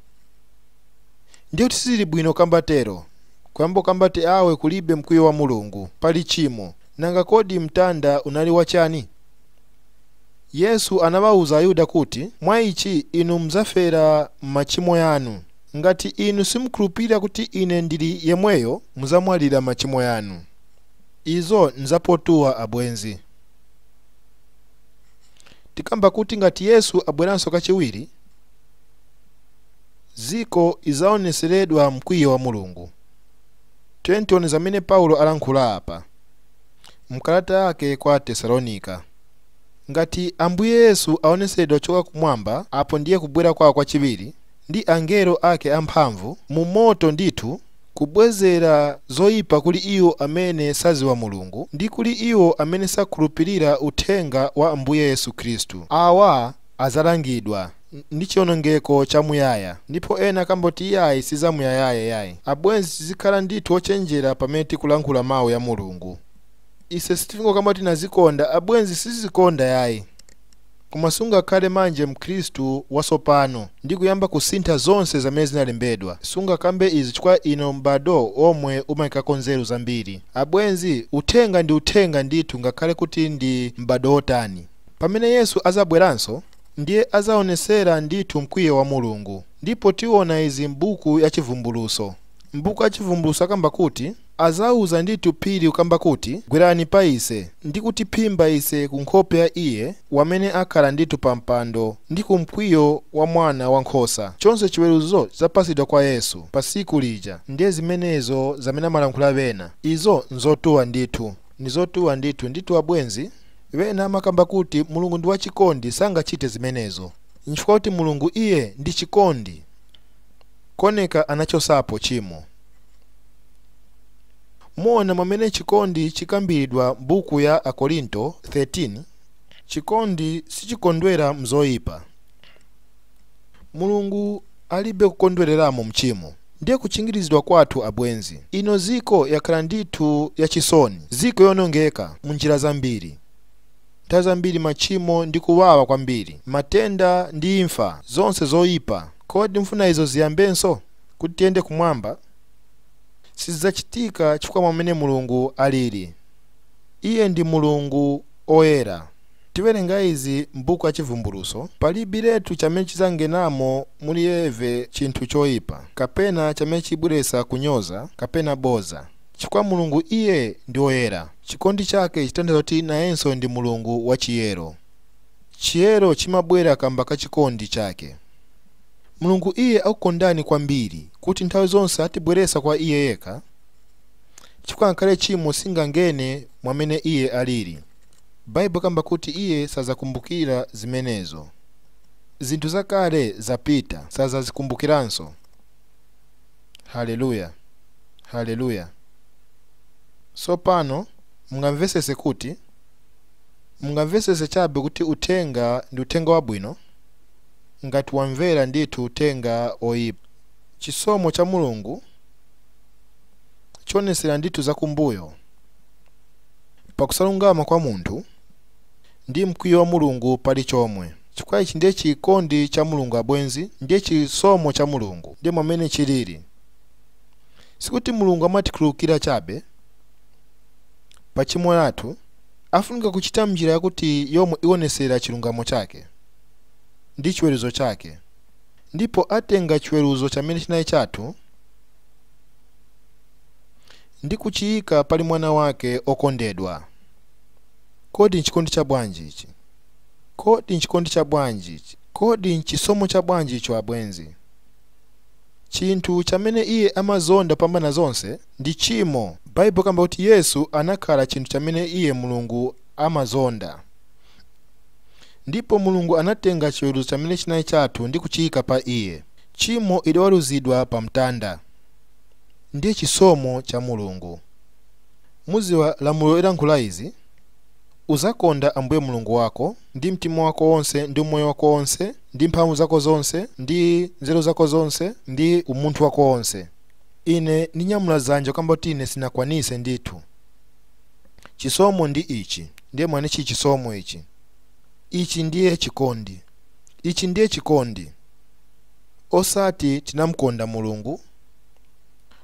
ndiye kuti sizili bwino kamba tero kuyamba kukamba ati awe kulibe mkwiyo wa Mulungu pali tchimo nanga kodi mtanda unali wachani? Yesu anawauza Ayuda kuti, Mwa ichi inu mudzafera m'machimo yanu. Ngati inu simukhulupirira kuti ine ndiri yemweyo, mudzamwalira m'machimo yanu. Izo n'zapotuwa, abwenzi. Tikamba kuti ngati Yesu abweranso kachiwiri, dziko idzaonetseredwa mkwiyo wa Mulungu. Tiyeni tione zamene Paulo alankhula apa. Mkalata yake kwa Atesalonika, Ngati Ambuye Yesu aonetsedwa kuchoka kumwamba, apo ndiye kubwera kwao kwachiwiri, ndi angelo ake amphamvu, mu moto ndithu, kubwezera zoipa kuli iwo amene sadziwa Mulungu, ndi kuli iwo amene sakhulupilira uthenga wa Ambuye Yesu Khristu. Awa adzalangidwa. ndi chionongeko cha muyaya ndipo ena akamba kuti iyayi sizamuyayaya yayi abwenzi tizikhala ndithu ochenjera pamene tikulankhula mau ya mulungu ise sitingokamba tinazikonda abwenzi sizikonda yayi koma sungakhale manje mkhristu wasopano ndi kuyamba kusintha zonse zamene zinalembedwa sungakambe izi chifukwa ino m'bado omwe umaikako nzeru zambiri abwenzi uthenga ndi uthenga ndithu ngakhale kuti ndi m'bado otani pamene yesu azabweranso ndiye adzaonetsera ndithu mkwiyo wa Mulungu ndipo tiona izi m'buku ya Chivumbulutso. M'buku ya Chivumbulutso akamba kuti adzauza ndithu phiri kukamba kuti gwerani pa ise ndi kutiphimba ise ku nkhope ya iye wamene akhala ndithu pa mpando ndi ku mkwiyo wa mwana wa nkhosa. Chonse chiweruzo chidzapasidwa kwa Yesu pa siku lija ndiye zimenezo zamene amalankhula pena izo nzotuwa ndithu, nizotuwa ndithu, ndithu abwenzi? Ena amakamba kuti Mulungu ndi wachikondi sangachite zimenezo nchifukwa kuti Mulungu iye ndi chikondi. Koneka anachosapo chimo. Muona mwamene chikondi chikambilidwa mbuku ya Akorinto 13? Chikondi sichikondwera mzoipa. Mulungu alibe kukondwereramo mchimo. Ndiye kuchingirizidwa kwathu, abwenzi. Ino ziko yakhala ndithu ya chisoni, ziko yonongeka mu njira zambiri. Nthawi zambiri machimo ndi kuwawa kwambiri, matenda ndi imfa, zonse zoipa. Kodi mufuna izo ziyambenso, kuti tiyende Kumwamba? Sizidzachitika chifukwa mwamene Mulungu aliri. Iye ndi Mulungu oyera. Tiwerenga izi mbuku ya chivumbuluso, Palibiletu chamene chizangenamo muli eve chinthu choipa, kapena chamene chibwelesa kunyoza kapena boza, chifukwa Mulungu iye ndi oyera, chikondi chake chitanthauza kuti nayenso ndi Mulungu wa chiyero. Chiyero chimabwera kamba ka chikondi chake. Mulungu iye akukondani kwambiri kuti nthawi zonse atibwelesa kwa iye yekha, chifukwa ngakhale chimo singangene mwamene iye alili. Baibulo ikamba kuti iye sadzakumbukila zimenezo. Zinthu zakale zapita, sadzazikumbukilanso. Haleluya! Haleluya! Tsopano mungamvetsetse kuti? Mungamvetsetse cabe kuti uthenga ndi uthenga wabwino ngati wamvela ndithu uthenga woipa. Cisomo ca Mulungu cionetsela ndithu zakumbuyo. Pakusalungama kwa munthu ndi mkwiyo wa Mulungu pali chomwe, chifukwa ichi ndiye chikondi cha Mulungu abwenzi, ndiye chisomo cha Mulungu, ndiye mwamene chilili. Sikuti Mulungu amatikhululukira chabe pa chimo lathu, afunika kuchita mnjira yakuti yomwe iwonesera chilungamo chake ndi chiweruzo chake, ndipo atenga chiweruzo chamene chinali chathu, ndi kuchiyika pali Mwana Wake okondedwa. Kodi nchikondi chabwanji ichi! Kodi nchikondi chabwanji ichi! Kodi nchisomo chabwanji icho, abwenzi! Chinthu chamene Iye amazonda kupambana zonse ndi chimo. Baibulo ikamba kuti Yesu anakhala chinthu chamene Iye, Mulungu, amazonda. Ndipo Mulungu anatenga chiweruzo chamene chinali chathu ndi kuchiyika pa Iye. Chimo idaweruzidwa pa Mtanda. ndiye chisomo cha mulungu muziwa lamulo ilankhula izi uzakonda ambuye mulungu wako ndi mtima wako wonse ndi umoyo wako wonse ndi mphamvu zako zonse ndi nzeru zako zonse ndi umunthu wako wonse ine ndinyamula zanja kamba kuti ine sinakwanise ndithu chisomo ndi ichi ndiye mwene chi chisomo ichi ichi ndiye chikondi ichi ndiye chikondi Osati tinamkonda Mulungu,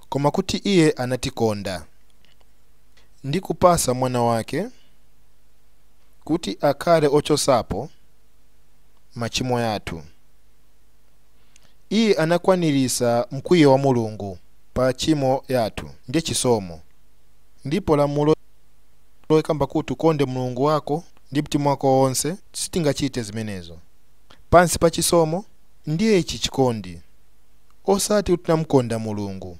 koma kuti iye anatikonda, ndi kupasa Mwana wake kuti akhale ochosapo machimo yathu. Iye anakwanirisa mkwiyo wa Mulungu pa chimo yathu ndiye chisomo. Ndipo lamulo lokamba kuti ukonde Mulungu wako ndi mtima wako onse, sitingachite zimenezo pansi pa chisomo. Ndiye ichi chikondi. Osati kuti tinamukonda Mulungu,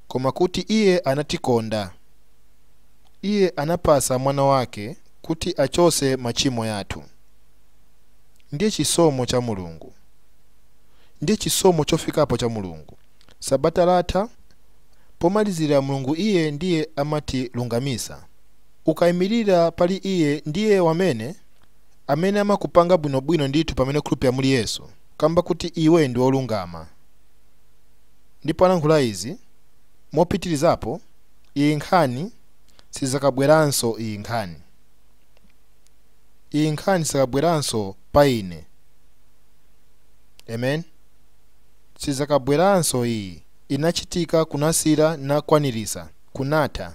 koma kuti Iye anatikonda. Iye anapasa Mwana Wake kuti achose machimo yathu. Ndiye chisomo cha Mulungu. Ndiye chisomo chofikapo cha Mulungu. Sabata latha, pomalizira Mulungu Iye ndiye amatilungamisa. Ukaimirira pali Iye ndiye wamene. amene amakupanga bwino bwino ndithu pamene ukhulupirira muli Yesu kamba kuti iwe ndi olungama ndipo alankhula izi mopitirizapo iyi nkhani sizakabweranso iyi nkhani iyi nkhani sizakabweranso pa ine amen sizakabweranso iyi inachitika kunasila nakwanirisa kunatha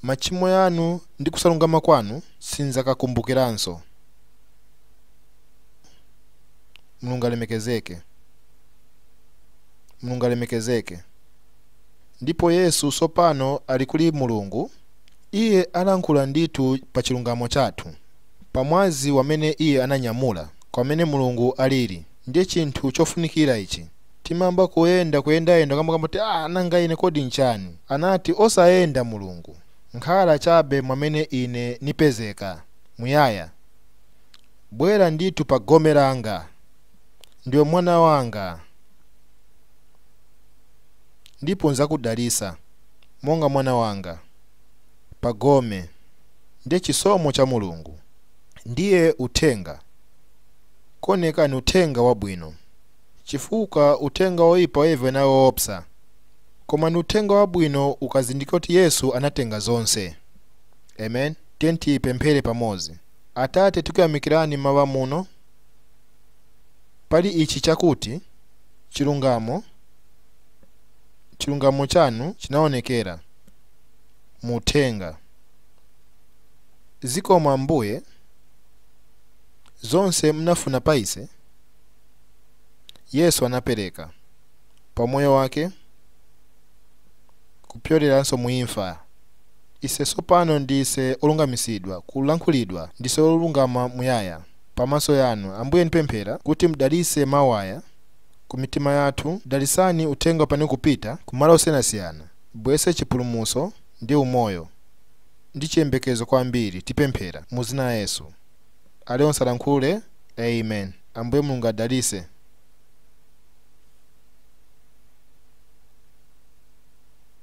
machimo yanu ndi kusalungama kwanu Sin'dzakakumbukiranso. Mulungu alemekezeke. Mulungu alemekezeke. Ndipo Yesu tsopano ali kwa Mulungu, Iye alankhula ndithu pa chilungamo chathu, pa mwazi wamene Iye ananyamula, kwamene Mulungu aliri. Ndiye chinthu chofunikira ichi. Timayamba kuyenda, kuyendayenda, kukamba, kukamba kuti, Ah, nanga ine kodi n'chani? Anati, Osayenda, Mulungu. nkhala chabe mwamene ine nipezeka, muyaya. Bwera ndithu pa gome langa, ndiwe mwana wanga, ndipo nzakudalisa monga mwana wanga. Pa gome, ndiye chisomo cha Mulungu. Ndiye uthenga, kuoneka ni uthenga wabwino. chifukwa uthenga woipa weve ni woopsa, koma ni uthenga wabwino ukazindikira kuti Yesu anatenga zonse. Amen. Tiyeni tipemphere pamodzi. Atate, tikuyamikirani m'mawa muno pa ichi chakuti chilungamo, chilungamo chanu chinaonekera mu uthenga. Zikomo, Ambuye, zonse mnafuna pa ise. Yesu anapereka, pa umoyo wake kupyoleranso mu imfa, ise tsopano ndise olungamisidwa, kulankhulidwa, ndise olungama muyaya pamaso yanu, Ambuye ndipemphera kuti mdalitse mau aya ku mitima yathu, dalitsani uthenga pamene ukupita ku malo osiyanasiyana, bweretse chipulumutso ndi umoyo ndi chiyembekezo kwa ambiri, tipemphera mu dzina la Yesu. Ali onse alankhule Amen. Ambuye Mulungu adalise.